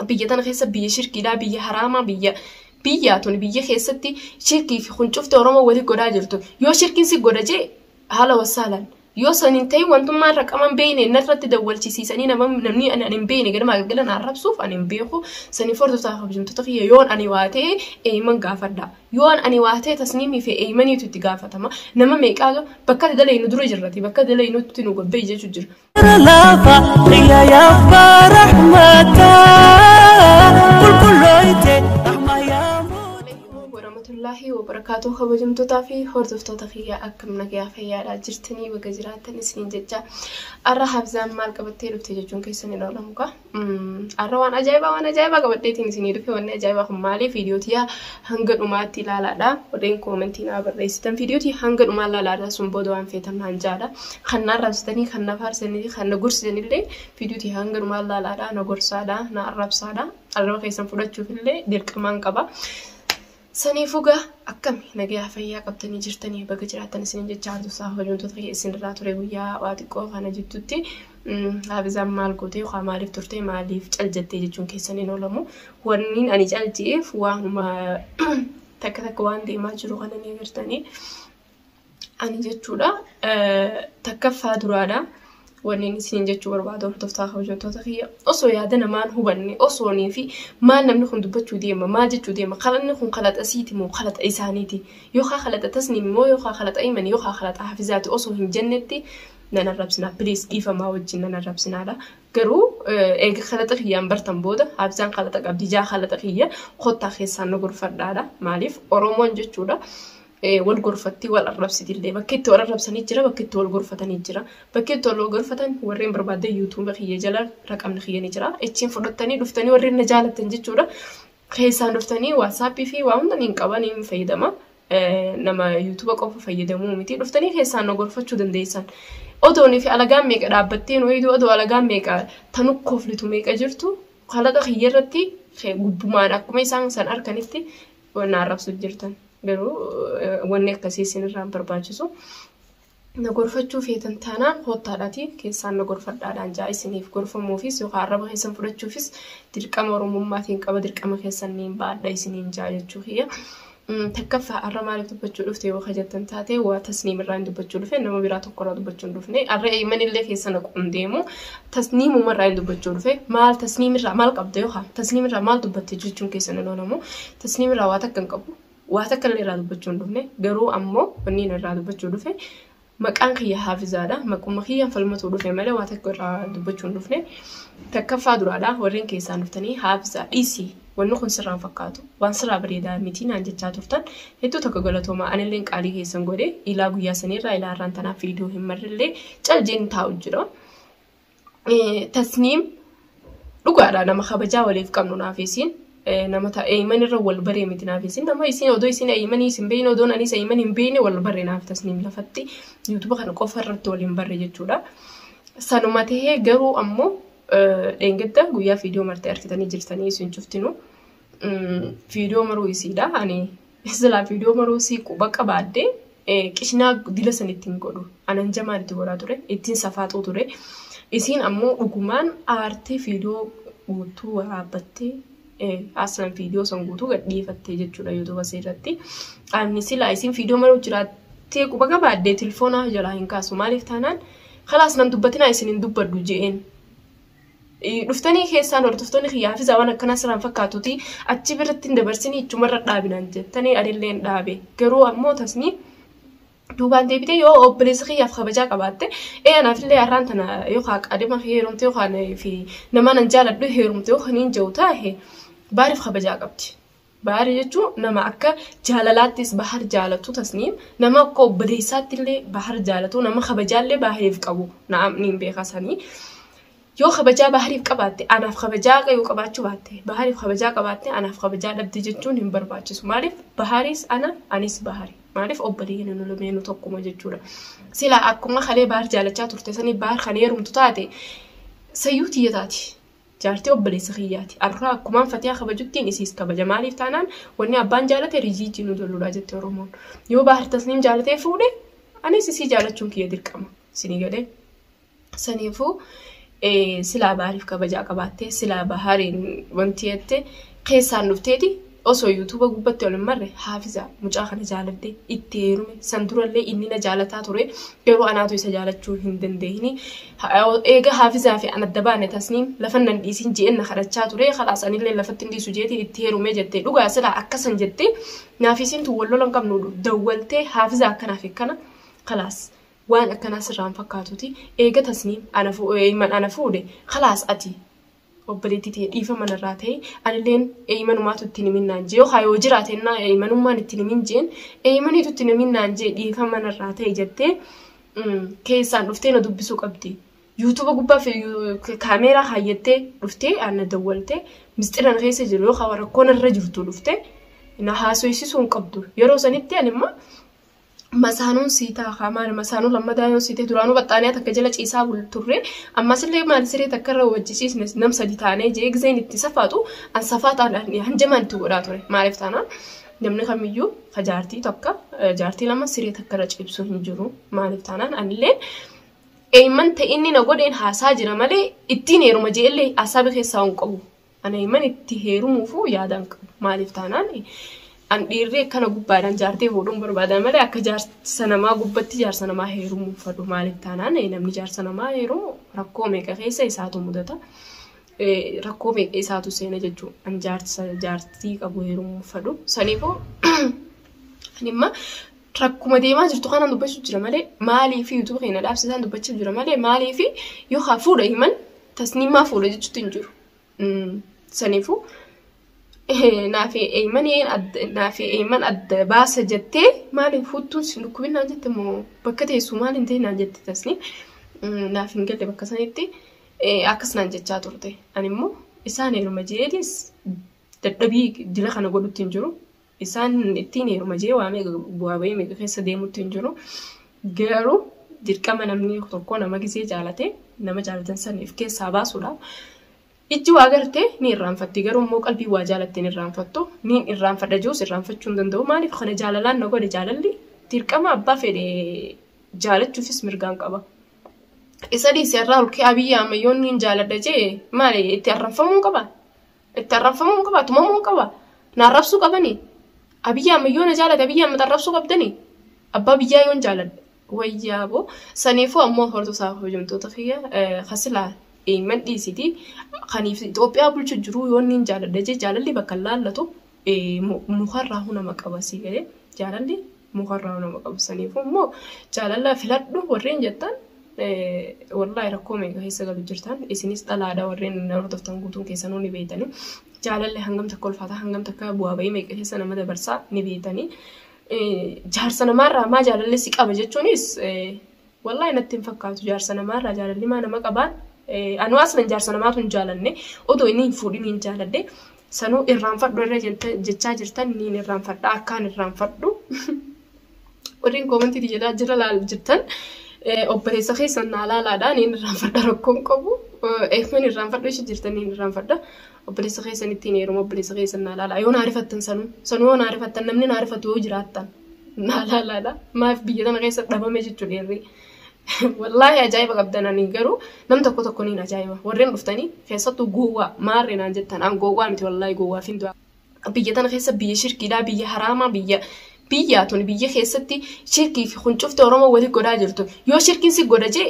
biyya tana keessa biyya shirkiidhaa biyya haraamaa biyya biyyaa tun biyya keessatti shirkii fi kun cufti oromoo walii godhaa jirtu yoo shirkiin si godha jee haala wasaalan yoo san hin ta'in wantummaa irra qaban beeyne narratti dawwalchisiisanii namni ani hin beeyne ganamaa galgala na arrabsuuf ani hin beeku sanii fordootaa kabajamtoota kiyya yoon ani waa ta'e eeyman gaafadha yoon ani waa ta'e tasniimii fi eeymaniitu itti gaafatama nama meeqaa bakka dalaynu dura jirrati bakka dalaynutti nu gobbee jechuu jira warahmatullaahi wabarakaatu kabajamtootaa fi hordoftoota kiyyaa akkam nagayaa fayyaadhaa jirtanii baga jiraattan isiniin jecha arra habzaan maal qabattee dhufte jechuun keessan hin oolamu kaa Har'a waan ajaa'ibaa waan ajaa'ibaa qabadheetiin isinii dhufe wanni ajaa'ibaa kun maali viidiyoo tiyyaa hanga dhumaatti ilaalaadha. Warreen koomentii naa barreessitan viidiyoo tiyya hanga dhumaa ilaalaadha sun booda waan feetan naan jaadha. Kan na arrabsitanii kan na faarsanii fi kan na gorsitanillee viidiyoo tiyya hanga dhumaa ilaalaadha na gorsaadha na arrabsaadha. Arraba keessan fudhachuufillee dirqamaan qaba. Saniifuu gaa akkami nagayaa fayyaa qabdanii jirtanii baga jiraattan isinin jechaa antusaa hojiin tuta kee isinirraa ture guyyaa waa xiqqoo kana jidduutti haafizaan maal gootee yookaan maaliif turtee maaliif cal jettee jechuun keessan hin oolamu wanniin ani cal je'eef waanuma takka takka waan deemaa jiru kana ni agartanii ani jechuudha takkaffaa duraadha. Wanni isin jechuu barbaadu hordoftaa kabajamtoota kiyya osoo yaada namaan hubanne osoonii fi maal namni kun dubbachuu deema maal jechuu deema kalanni kun kalaxa siiti moo kalaxa isaaniiti yookaan kalaxa tasniim moo yookaan kalaxa iman yookaan kalaxa hafizaati osoo hin jennetti nan arrabsinaa piliis dhiifamaa wajjin nan arrabsinaadha garuu eega kalaxa kiyyaan bartan booda habisaan kalaxa qabdi jaa kalaxa kiyya kottaa keessaan nu gorfadhaadha maaliif oromoon jechuudha wal gorfatti wal arrabsiti illee bakki itti wal arrabsanii jira bakki itti wal gorfatanii jira bakki itti wal gorfatan warreen barbaadde yuutuuba kiyya jala raqamni kiyya ni jira achiin fudhattanii dhuftanii warreen na jaalatan jechuudha keessaan dhuftanii waatsaappii fi waa hunda niin qaba niin fayyadama nama yuutuuba qofa fayyadamuu miti dhuftanii keessaan na gorfachuu dandeessan odoonii fi alagaan meeqa dhaabbattee nu eegdu odoo alagaan meeqa tanu koflitu meeqa jirtu kalaqa kiyya irratti gubbumaan akkuma isaan san harkanitti Wanna arrabsu jirtan garuu wanni akkasii isinirraa hin barbaachisu. Na gorfachuu feetan taanaan koottaadhaatii keessaan na gorfadhaadhaan ja'a isiniif gorfamuufis yookaan arraba keessan fudhachuufis dirqama oromummaatiin qaba dirqama keessan niin baadha isiniin ja'a jechuu kiyya. Takkaffaa arra maaliif dubbachuu dhufte yoo jettan taate waa tasniim irraa hin dubbachuu dhufe nama biraa tokko irraa dubbachuu hin dhufne arra eeymanillee keessa naqu hin deemu tasniim umarraa hin dubbachuu dhufe maal tasniim irraa maal qabda yookaan tasniim irraa maal dubbatte jechuun keessan hin oolamu tasniim irraa waa takka hin qabu waa takka illee irraa dubbachuu hin dhufne garuu ammoo wanni inni irraa dubbachuu dhufe maqaan kiyya haafizaadha maquma kiyyaan falmatuu dhufe malee waa takka irraa dubbachuu hin dhufne takkaffaa duraadha warreen keessaan dhuftanii haafizaa dhiisii wanni kun sirraan fakkaatu waan sirraa bareedaa miti naan jechaa turtan hedduu tokko galatoomaa anillee qaalii keessan godhe ilaa guyyaa saniirraa ilaa irraan tanaaf viidiyoo hin marrillee cal jeen taa'u jira. tasniim dhugaadha nama kabajaa waliif qabnu naaf isiin nama ta eeyman irra wal baree miti naaf isiin nama isiin odoo isiin eeymanii isin beeyne odoo anis eeyman hin beeyne wal barre naaf tasniim lafatti yuutuba kana qofa irratti wal hin barre jechuudha. Sanuma tahee garuu ammoo dheengadda guyyaa fiidiyoo martee argitanii jirtanii isin cuftinu fiidiyoo maruu isiidha ani Isa jalaa viidiyoo maruu sii quba qabaadde qishnaa dila san ittiin godhu anan jamaan itti godhaa ture ittiin safaaxuu ture isiin ammoo dhugumaan aartee viidiyoo guutuu waraabbattee aslan viidiyoo san guutuu gadhiifattee jechuudha yuutuuba isii irratti ani silaa isiin viidiyoo maruu jiraattee quba qabaadde tilfoonaa jalaa hin kaasu maaliif taanaan kalaas nan dubbatinaa isin hin dubbaddu je'een Dhuftanii keessaan hordoftoonni kiyya hafizaa waan akkanaa siraan fakkaatuti achi birratti hin dabarsinii ichumarra dhaabinaan jettanii adilleen dhaabe garuu ammoo tasnii duubaan deebitee yoo obboleessa kiyyaaf kabajaa qabaatte ee anaafillee har'aan tana yookaan qaadima heerumte yookaan fi nama nan jaaladhu heerumte yookaan hin jiru taa'e baariif kabajaa qabdi. Bahar jechuun nama akka jaalalaattis Bahar jaalatu tasniim nama akka obboleessaatti illee Bahar jaalatu nama kabajaa illee Bahariif qabu na'am niin beeka sanii yoo kabajaa Bahariif qabaatte anaaf kabajaa yoo qabaachuu baatte Bahariif kabajaa qabaatte anaaf kabajaa dhabde jechuun hin barbaachisu maaliif Baharis ana anis Bahari maaliif obboleeyyan nu lameenu tokkuma jechuudha sila akkuma kalee Bahar jaalachaa turte sanii Bahar kan heerumtu taate sayyuu tiyya taati Jaartii obboleessa kiyyaati. Arraa akkumaan Fatiyaa kabajuttiin isiis kabaja. Maaliif taanaan wanni abbaan jaalate rijiijii nu dolludha jette Oromoon. Yoo Baahir Tasniim jaalatee fuudhe anis isii jaalachuun kiyya dirqama. Isinii galee? Saniifuu silaa Baahiriif kabajaa qabaattee silaa Baahiriin wanti jette keessaan dhufteeti. Osoo youtube gubbatti ol hin marre haafiza mucaa kana jaaladhe itti heerume san durallee inni na jaalataa ture garuu anaatu isa jaalachuu hin dandeenye eega haafizaa fi an adda baane tasniim lafan nan dhiisin je'een na kadhachaa ture kalaas anillee lafatti hin dhiisu jeetiin itti heerume jettee dhugaa silaa akkasan jettee naaf isiin tun wal lolan qabnu dawwaltee haafizaa akkanaaf akkana kalaas waan akkanaa sirraan fakkaatuti eega tasniim ana fuudhe kalaas ati obboleettii tiyya dhiifama narraa ta'i anilleen eeymanumaatu itti hin himin naan jee yookaan yoo jiraate innaa eeymanummaan itti hin himin jeen eeymaniitu itti hin himin naan jee dhiifama narraa ta'i jettee mm, keessaan dhuftee na dubbisuu qabdi. Yuutuuba gubbaa fi yu- ka- kaameeraa kaayyattee dhuftee aan na dawwaltee misxira na keessa jiru yookaan rakkoo narra jirtu dhuftee na haasoysisuu hin qabdu. Yeroo sanitti ani immoo masaanuun sii taakaa maali masaanuu lammadaa yoo siitee duraanuu baxxaaniyaa takka jala ciisaa bul turre ammasillee maali siree takka irra wajji ciisne nam sadi taanee jee gizeen itti safaatu an safaa taadhaan hanjamaan itti godhaa ture maaliif taanaan namni kamiyyuu ka jaartii tokko jaartii lama siree takka irra ciibsuu hin jiru maaliif taanaan anillee eeyman ta'inni na godheen haasaa jira malee ittiin heeruma jeellee haasaa bikeessaa hin qabu Ani imman itti heerumuufuu yaada hin qabu. Maaliif taanaan an dhiirri akkana gubbaadhaan jaartee fuudhuun barbaada malee akka jaarsa namaa gubbatti jaarsa namaa heerumuu hin fadhu. Maaliif taanaan namni jaarsa namaa heerumu rakkoo meeqa keessa isaatu mudata. Rakkoo meeqa isaatu seena jechuudha. An jaarsa jaartii qabu heerumuu hin fadhu. Saniifuu ani imma rakkuma deemaa jirtu kanaan dubbachuu jira malee maaliif yuutuuba keenya dhaabsisaan dubbachuu jira malee maaliif yoo haa fuudha himan tasniimaa fuudha jechuutti hin jiru. Saniifuu naaf eeyyiman adda baasa jettee maaliin fuuttuun si dhukkubin naan jette moo bakka teessu maaliin ta'e naan jette tasni naaf hin galle bakka sanitti akkas naan jechaa turte. Ani immoo isaan eluma jeedis dadhabii dila kana godhutti hin jiru. isaan ittiin heeruma jee waamee bu'aa bahii meeqa keessa deemutti hin jiru. Garuu dirqama namni tokko nama gisee jaalate nama jaalatan san if keessaa baasuudha. Ijji waa garte ni irraanfatti garuu immoo qalbii waa jaalatte ni irraanfattu ni irraanfadha jiruus irraanfachuu hin danda'u maaliif kana jaalalaan na godhe jaalalli dirqama abbaa fedhe jaalachuufis mirgaan qaba. Isa dhiisee irraa olkee abiyyi ammayyoon ni jaaladha jee maali itti arranfamuu qaba. Itti arrabfamuu hin qabaa? Tumamuu hin qabaa? Na arrabsuu qabanii? Abiyyi Ahmed yoo na jaalate Abiyyi Ahmed arrabsuu qabdanii? Abbaa biyyaa yoon jaaladhe wayyaa boo saniifuu ammoo hordosaa hojjamtoota kiyya kasilaa eeyman dhiisiti kaniif Itoophiyaa bulchu jiruu yoon niin jaaladhe jee jaalalli bakka hin laallatu mukarraa huna maqabasii galee jaalalli mukarraa nama qabu saniifuu immoo jaalalaa filadhu warreen jettan wallaahi rakkoo meeqa keessa galu jirtan isinis dhalaadha warreen na hordoftan guutuun keessanuu ni beeytanii jaalalli hangam takka ulfaataa hangam takka bu'aa ba'ii meeqa keessa nama dabarsaa ni beeytanii jaarsa namaarraa maa jaalalli si qaba jechuunis Wallahi natti hin fakkaatu jaarsa namaa irraa jaalalli maa nama qabaan anuu aslan jaarsa namaatu hin jaalanne otoo inni hin fuudhin hin jaaladhe sanuu irraanfadhu irra jechaa jirtan niin irraanfadha akkaan irraanfadhu warreen koomantiiti jedhaa jira laal jirtan obboleessa keessan naa laalaadha niin irraanfadha rakkoon qabu eefmin irraanfadhu ishi jirtan niin irraanfadha obboleessa keessan ittiin heeruma obboleessa keessan naa laala yoo naa rifattan sanuu sanuu yoo naa rifattan namni naa rifatu yoo jiraattan naa laalaadha maaf biyya tana keessa dhabame jechuu dheerri wallaahi ajaa'iba qabdan ani garuu nam tokko tokko niin ajaa'iba warreen dhuftanii keessattuu gowwaa maarre naan jettan an gowwaa miti wallaahi gowwaa fi du'a biyya tana keessa biyya shirkiidhaa biyya haraamaa biyya biyyaa tun biyya keessatti shirkii fi kuncufte oromoo wali godhaa jirtu yoo shirkiin si godha jee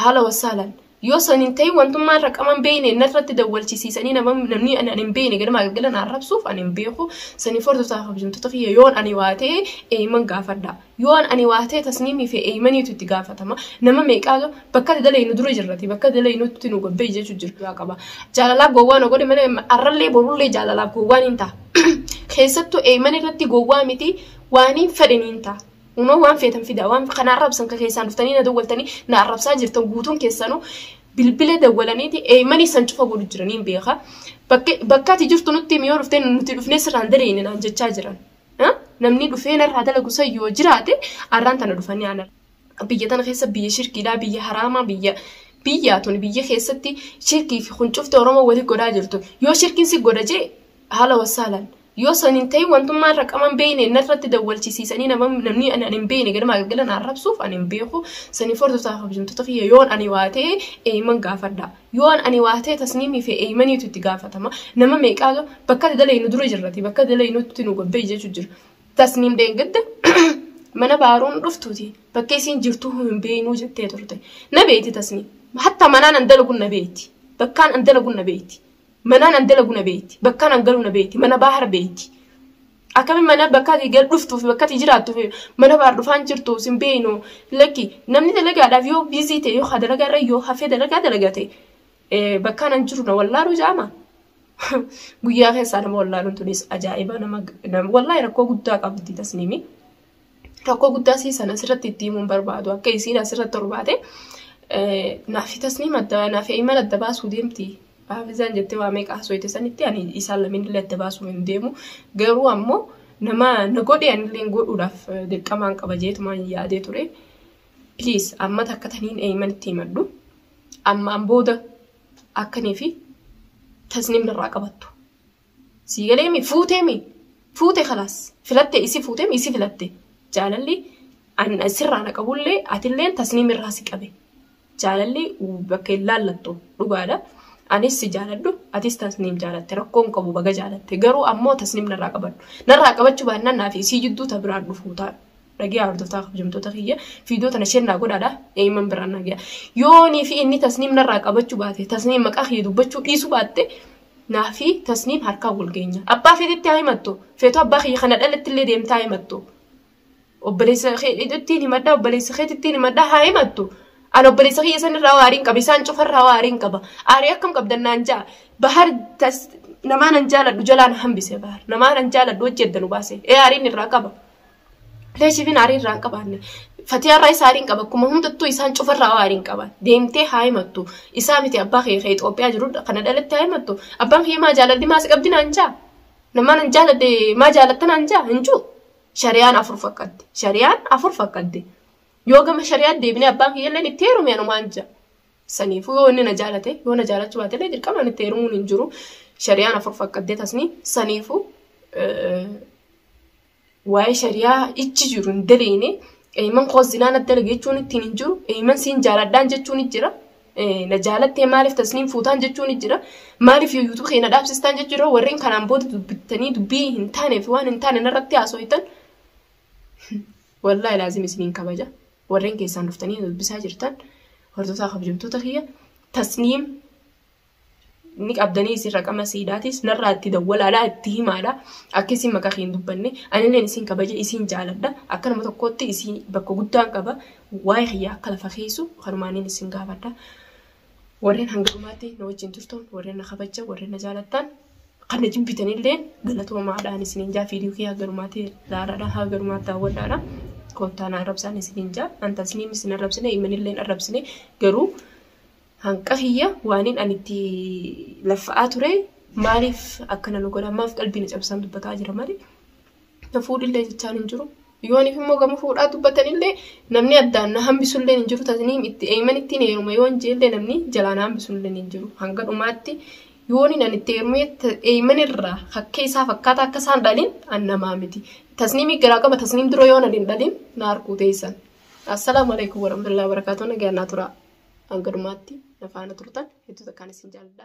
haala wassaalan Yoo san hin ta'in wantummaa irra qaban beeyne narratti dawwalchisiisanii namni ani hin beeyne ganamaa galgala na arrabsuuf ani hin beeku saniif hordoftaa kabajamtoota kiyya yoon ani waa ta'e eeyman gaafadha. Yoon ani waa ta'e tasniimii fi eeymaniitu itti gaafatama. Nama meeqaa bakka itti dalaynu dura jirrati bakka itti dalaynutti nu gobbee jechuu jirgaa qaba. Jaalalaaf gowwaa nu godhe malee arrallee borullee jaalalaaf gowwaan hin ta'a. Keessattuu eeyman irratti gowwaa miti waaniin fedhe niin ta'a. Uumama waan feetan fidaa waan kana arrabsan kan keessaan dhuftanii na dawwaltanii na arrabsaa jirtan guutuun keessanuu bilbila dawwalaniiti eeymanii san cufa godhu jiranii hin beeka. Bakka ati jirtu nutti himi yoo dhuftee nuti dhufnee sirraan daleeyne naan jechaa jiran. Namni dhufee narraa dalagu san yoo jiraate arraan tana dhufanii ana. Biyya tana keessa biyya shirkiidhaa biyya haraamaa biyya biyyaa tuni biyya keessatti shirkii fi kun cufte Oromoo wali godhaa jirtu. Yoo shirkiin si godha jee haala wassaalaan. Yoo san hin ta'in wantummaan raqaman beeyne narratti dawwalchisiisanii namni ani hin beeyne ganama galgala na arrabsuuf ani hin beeku sanii fordota kabajamtoota kiyya yoon ani waa ta'e eeyman gaafadha. Yoon ani waa ta'e tasniimii fi eeymaniitu itti gaafatama. Nama meeqaa bakka dalaynu dura jirrati bakka dalaynutti nu gabbee jechu jira. Tasniim dheengadda mana baaruun dhuftuuti bakka isiin jirtuu hin beeynuu jettee turte. Na beeyti tasniim. Hatta manaan an dalagun na beeyti. Bakkaan an dalagun na beeyti. Manaan an dalagu na beekti. Bakkaan an galu na beekti. Mana baahar beekti. Akkamiin mana bakka ati gal dhuftuu fi bakka ati jiraattuu fi mana baahar dhufaan jirtu sin beeknu lakki namni dalagaadhaaf yoo biizii ta'e yoo dalagaa irra yoo hafee dalagaa dalagate bakkaan an jiru na wallaaluu jaama. Guyyaa keessaa nama wallaaluun tunis ajaa'ibaa nama wallaahi rakkoo guddaa qabdi tasniimii. rakkoo guddaa sii san asirratti itti himuun barbaadu akka isiin asirratti torbaate naafi tasniim adda naafi iman adda baasuu deemti haafizaan jettee waa meeqa haasooyte sanitti ani isaan lameen illee adda baasuu hin deemu garuu ammoo nama na godhe anillee godhuudhaaf dirqamaan qaba jeetumaan yaadee ture please amma takka taniin eeyman itti himadhu ammaan booda akkanii fi tasniim narraa qabattu sii galeemi fuuteemi fuute kalaas filatte isi fuuteemi isi filatte jaalalli an sirraa na qabullee atilleen tasniim irraa si qabe jaalalli bakka hin laallattu dhugaadha anis si jaaladhu atis tasniim jaalatte rakkoon qabu baga jaalatte garuu ammoo tasniim narraa qabadhu narraa qabachuu baannaan naaf isii jidduu ta biraan dhufuu ta'a dhagee hordoftaa kabajamtoota kiyya fiidoo tana isheen naa godhaadha eeyyiman biraan naa gaya yoonii fi inni tasniim narraa qabachuu baate tasniim maqaa kiyya dubbachuu dhiisuu baatte Naa fi Tasniim harkaa wal geenya. Abbaa feetetti haa himattu. Feetu abbaa kiyya kana dhaletti illee deemtaa haa himattu. Obboleessa keetittiin himadhaa, obboleessa keetittiin himadhaa haa himattu. An obboleessa kiyya san irraa waariin qaba, isaan cufa irraa waariin qaba. Aarii akkam qabdan naan ja'a. Bahar tas namaa nan jaaladhu jalaa na hambise bahar. Namaa nan jaaladhu hojii adda nu baase. Ee aariin irraa qaba. Leesiifin aarii irraa hin qabaanne. Fatiyaa irraa isa aarii hin qaba. Akkuma hundattuu isaan cufa irraa aarii hin qaba. Deemtee haa himattu. Isaa miti abbaa kee kee Itoophiyaa jiru kana dhalatti haa himattu. Abbaan kee maa jaalalli maa si qabdi naan jaa. Namaa nan jaaladde maa jaalatta naan jaa hin juu. Shariyaan afur fakkatti. Shariyaan afur fakkatti. Yoo gama shariyaa deebinee abbaan kiyya illee itti heerume anumaan jaa. Saniifuu yoo inni na jaalate yoo na jaalachuu baate illee dirqamaan itti heerumuun hin jiru. Shariyaan afur fakkattee tasni saniifuu waa'ee shariyaa ichi jiru hin daleeyne eeyman koo zinaa na dalage jechuun ittiin hin jiru eeyman siin jaaladhaan jechuun hin jira na jaalattee maaliif tasniin fuutaan jechuun hin jira maaliif yuutuu kee na dhaabsistaan jechuun jira warreen kanaan booda dubbittanii dubbii hin taanee fi waan hin taane narratti haasooytan wallaahi laazim isiniin kabaja warreen keessaan dhuftanii dubbisaa jirtan hordofaa kabajamtoota kiyya tasniim ni qabdanii isin raqama siidhaatis narraa itti dawwalaadha itti himaadha akka isin maqaa kee hin dubbanne anilleen isin kabaje isin jaaladha akka nama tokkootti isin bakka guddaan qaba waa'ee kiyyaa akka lafa keessu kanumaaniin isin gaafadha warreen hanga dhumaatti na wajjin turtan warreen na kabaja warreen na jaalattan kan na jibbitanillee galatoomaadhaan isiniin jaa fiidiyoo kiyyaa garumaatti laalaadha haa garumaatti daawwadhaadha koottaan arrabsaan isiniin jaa antasniin isin arrabsine imanilleen arrabsine garuu Hanqa kiyya waanin ani itti laffa'aa ture maaliif akkana nu godha maaf qalbii na cabsaan dubbataa jira malee na fuudhillee jechaan hin jiru. Yooniif immoo gama fuudhaa dubbatanillee namni addaan na hambisullee hin jiru tasniim itti eeyman ittiin heeruma yoon jeellee namni jalaa na hambisullee hin jiru hanga dhumaatti yooniin ani itti heerumee eeyman irraa hakkee isaa fakkaataa akka isaan dhalin an namaa miti tasniimii garaa qaba tasniim dura yoon ani hin dhalin na harkuu teessan Assalaamu alaikum warahmatullahi wabarakatuh nagaan naa turaa hanga dhumaatti na faana turtan hedduu takkaan isin jaalladha.